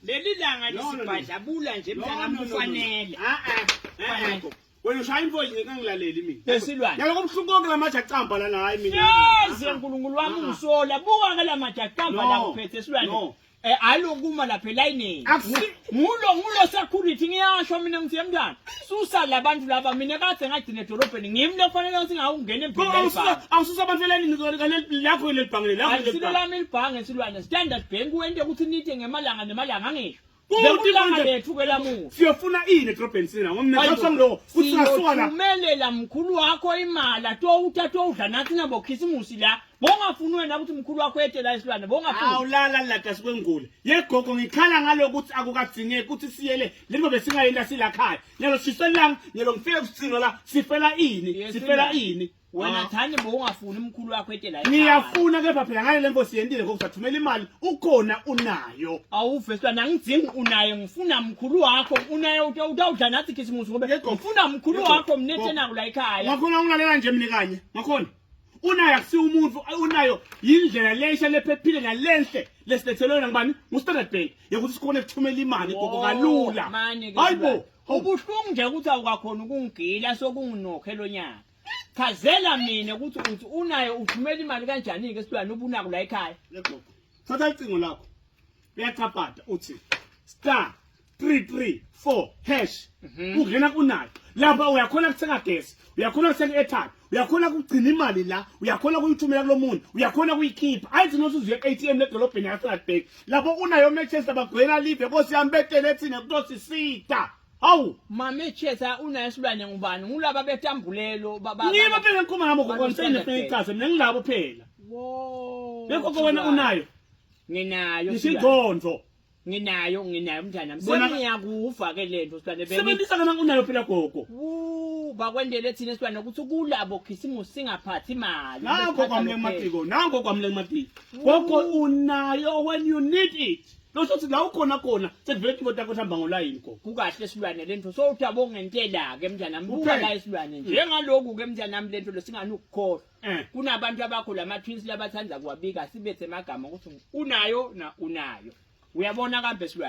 leli langa lisibhadlabula nje mntanami kufanele wena ushaya imfo yini kangilaleli mina lesilwane yaloko buhlungu konke la maja camba lana hayi mina yazi uNkulunkulu wami ungisola buka ke la maja camba la uphethe silwane eh alokuma lapha elayinini Ngulo ngulo security ngiyasho mina ngithi yemntana susa labantu laba mina kade ngagcina edolobheni ngimi lofanele ukuthi ngawungena empilweni awususa abantu elalini lakho lelibhange lakho lelibhange lami libhange silwane standard bank wente ukuthi nithe ngemalanga nemalanga angisho siyofuna ini edrobheni sina ngomnaasangilowo kuthi sasuka la umelela mkhulu wakho imali atowuthatha owudla nathi nabokhisimusi la Bongafuni wena ukuthi mkhulu wakho ete la isilwane bongafuni. Awulala lada sikwengule. Yegogo ngikhala ngalo ukuthi akukadzineki ukuthi siyele lento besingayenda sila khaya. Nyalo shiselanga nyalo ngifike kusicino la sifela ini sifela ini. Wena ah. thani bongafuni mkhulu wakho ete la. Ngiyafuna kepha phela ngale lembo siyendile ngokuthi athumela imali ukhona unayo. Awuve silwane angidzingi unayo ngifuna mkhulu wakho unayo utawudla nathi khisimusi ngoba ngifuna mkhulu wakho mnethe naku la ekhaya. Ngakho ngulalela nje mina kanye. Ngakhona. unayo akusiwo umuntu unayo yindlela lesha lephephile nalenhle lesilethelwe ngibani ngustandard bank yokuthi sikhona ukuthumela imali gogo kalula hayibo ubuhlungu nje ukuthi awukakhona ukungigila sokunginokhe lo nyaka chazela mina ukuthi uthi unayo uthumela imali kanjani-ke esilwane ubunako la ekhaya thatha icingo lakho uyacapada uthi star 334 hash Mhm. ungena kunayo lapha uyakhona kuthenga gesi uyakhona kuthenga airtime uyakhona kugcina imali la uyakhona kuyithumela kulo muntu uyakhona kuyikhipha ayithi nothi uzuye ku-atm ledolobheni yaseradbank lapho unayo manchester bagwena live nkosi yami betele thina kutosisita hawu mame chesa unayo isilwane ngubani ngulaba betambulelo ba- ba- ngiba ba- phela ngikhuluma ngabo Abantu gokonifike standard nifike ichaze mina ngilabo phela Wo, bekho kowena unayo nginayo ngisho isilwane. ingqondo nginayo nginayo mntanami Bona- sengiyakufa ke lento silwane bengi sebenzisa lona unayo phela gogo Wuu, bakwendele thina silwane ukuthi kulabo khisimusi singaphathi imali nango Besiphatha kwamle kuphela. kumatiko nango kwamle kumatiko gogo unayo when you need it losho ukuthi la ukhona khona sekuvele imoto yakho ihamba ngolayini gogo kukahle silwane lento sowuthi abongentela ke mntanami Kuphela. kuphela isilwane njengaloku ke mntanami lento lesingani ukukhohlwa Eh. Kunabantu abakho lama twins labathanda kuwabika sibethe magama ukuthi unayo na unayo. Uyabona kambe silwane.